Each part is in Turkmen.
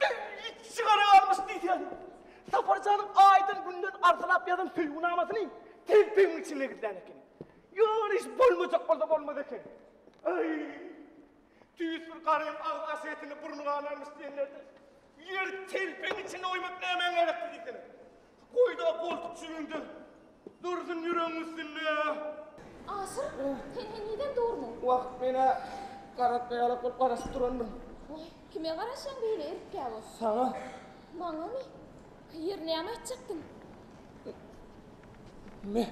Belli it sigara galmyş diýsäň. Sapar janyň aýdan günden arzylap ýazan söýgünamasyny telpegiň içinde gizlän ekeni. Ýaman iş bolmajak bolsa bolmaz eken. Aý! Tüýs bir garym agyz aşy etini burny ganarmyş diýenlerde, ýer telpegiň içinde oýmak nämäň gerekdi diýsene. Goýda goltuk jübiňde dursun ýüregiň üstünde. Aşyr, sen hem ýeden durmuň? Wagt menä garatma ýalak bolup garaşyp durandym. Waý, kime garaşýaň beýle erikgäwür? Saňa. Maňamy? Hyýr, näme aýtjakdyň? Me.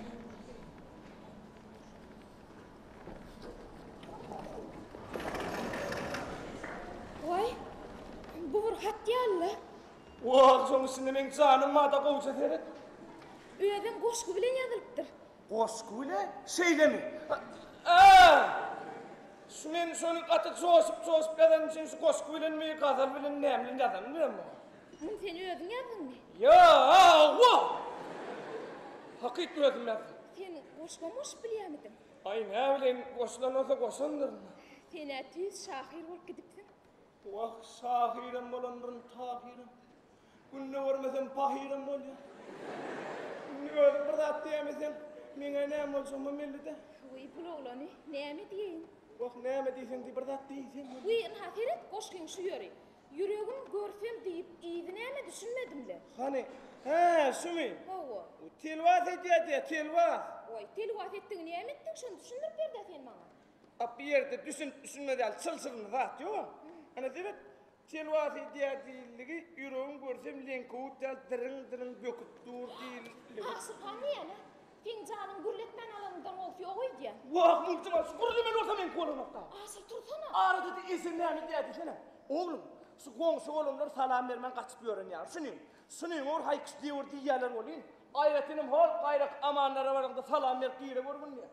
Waý, bu bir hat ýaly-la. Wah, şoň üçin-de meň janym bada gowja seret. Özem goşgy bilen ýazylypdyr. Goşgy bilen? Şeýlemi? A-a! Şu men şony gaty joşup-joşup ýazanym üçin şu goşgy bilenmi, gazal bilenmi, näme bilen ýazanym bilen muny. Muny sen özüň ýazdyňmy? Ýa-a-a-wa! Hakyt özüm ýazdym. Sen goşgam goşup bilýämidiň? Aý, näbileýin, goşulan bolsa goşandyryn. Sen-ä tüýs şahyr bolup gidipsiň. Bu wagt şahyram bolandyryn, tahyram. Günde görmesem pahyram bolýar. Indi özüm bir zat diýemesem, meňe näme boljagyma mellide. Wiý, pul oglany, näme diýeýin? Wah, näme diýseň diý, bir zat diýsene. Wiý, ynha seret, goşgyň şu ýeri. Ýüregim görsem diýip, yzy näme düşünmedim-le. Hany, hä, şumy? Hawa. Telwas edýär diýýär, telwas. Wiý, telwas etdigiňi näme etdiň, şony düşündirip ber-dä sen maňa. A bu ýerde düşünip-düşünmez ýaly çylşyrymly zat ýogam. Ana seret, Telwas edýär diýildigi, ýüregim görsem leňkewut ýaly dyryň-dyryň böküp dur diýildigi. Tagsyr han diýýän-ä, Seň janyň gürletmän alanyňdan gowy ýok öýdýän. Wah, muntjam-a şu gürlemeli bolsa meňki bolanok-da. Asyl tursana. Arada-da Esen näme diýýär diýsene. Oglum, şu goňşy olanlar salam bermän gaçyp ýören ýaly. Şuny, şuny ur, haýkyş diýiwür diýýäler welin, aýratynam hol gaýraky amanlara baraňda salam berip gire görgün diýýär.